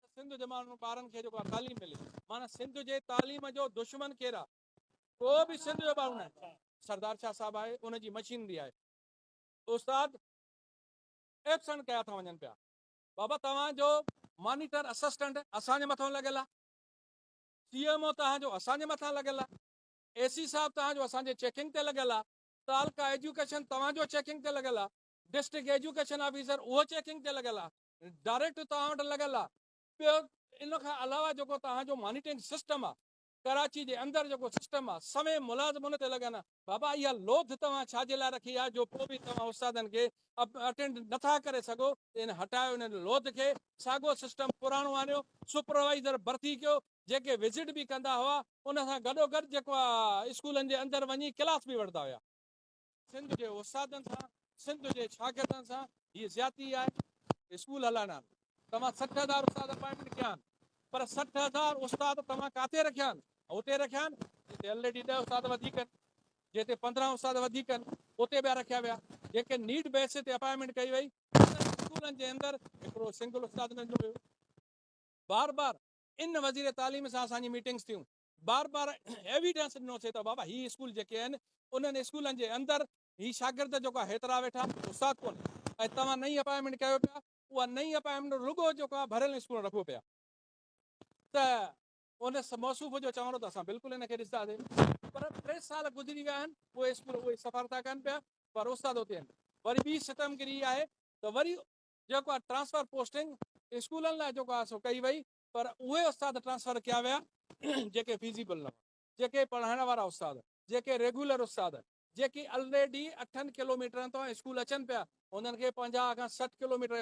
ته سنڌ جي ماڻهن ٻارن کي جيڪو تعليم ملي معنی سنڌ جي تعليم جو دشمن ڪير آ ڪو به سنڌ جو ٻارو نه سردار شاهه صاحب آهي ان جي مشينري آهي استاد ايبسنٽ ڪيا ٿا وڃن پيا بابا توهان جو مانيٽر اسسٽنٽ اسان جي مٿان لڳل آ سی ايم او توهان جو اسان جي مٿان لڳل آ اي سي صاحب توهان جو اسان جي چيڪنگ تي لڳل آ تعلقه ايجوڪيشن توهان جو چيڪنگ تي لڳل آ ڊسٽرڪٽ ايجوڪيشن آفيسر اهو چيڪنگ تي لڳل آ ڊائريڪٽ توهان وٽ لڳل آ ٻيو ان کان علاوه جيڪو توهان جو مانيٽرنگ سسٽم آ ڪراچي جي اندر جيڪو سسٽم آ سوين ملازم ان تي لڳن آ بابا اها لوٿ توهان ڇا جي لاء رکي آ جو پوء به توهان استادن کي اٽينڊ نٿا ڪري سگهو ان هٽايو ان لوٿ کي ساڳو سسٽم پراڻو آڻيو سپروائيزر ڀرتي ڪيو جيڪي وزٽ به ڪندا هئا ان سان گڏو گڏ جيڪو اسڪولن جي اندر وڃي ڪلاس به وٺندا هيا سنڌ جي استادن سان سنڌ جي شاگردن سان هي زيادتي آهي اسڪول هلائڻ آهن توهان سٺ هزار استاد اپائنٽمينٽ ڪيا آهن پر سٺ هزار استاد توهان ڪاٿي رکيا آهن اتي رکيا آهن جتي آلريڊي ڏه استاد وڌيڪ آهن جتي پندرهن استاد وڌيڪ آهن اتي ٻيا رکيا ويا جيڪي نيڊ بيس تي اپائنٽمينٽ ڪئي وئي اسڪولن جي اندر هڪڙو سنگل استاد نه جو بار بار ان وزير تعليم سان اسان جي ميٽنگس ٿيون بار بار ايويڊنس ڏنو سي ته بابا هي اسڪول جيڪي آهن انهن اسڪولن جي اندر هي شاگرد جيڪو آهي هيترا ويٺا آهن جو استاد ڪونهي ۽ توهان نئين اپائنٽمينٽ ڪيو پيا اها نئين اپائنٽمينٽ رڳو جيڪو آهي ڀريل اسڪول رکبو پيا ته ان موصوف جو چوڻ ته اسان بلڪل ان کي ڏسنداسين پر ٽي سال گذري ويا آهن اهي اسڪول اهي سفر ٿا ڪن پيا پر استاد اتي آهن وري ٻي ستمگري آهي ته وري جيڪو آهي ٽرانسفر پوسٽنگ اسڪولن لاء جيڪو آهي سو ڪئي وئي پر اهي استاد ٽرانسفر ڪيا ويا جيڪي فيزيبل نه هئا، جيڪي پڙهائڻ وارا استاد، جيڪي ريگيولر استاد، جيڪي الريڊي اٺن ڪلوميٽرن تان اسڪول اچن پيا، انهن کي پنجاهه کان سٺ ڪلوميٽر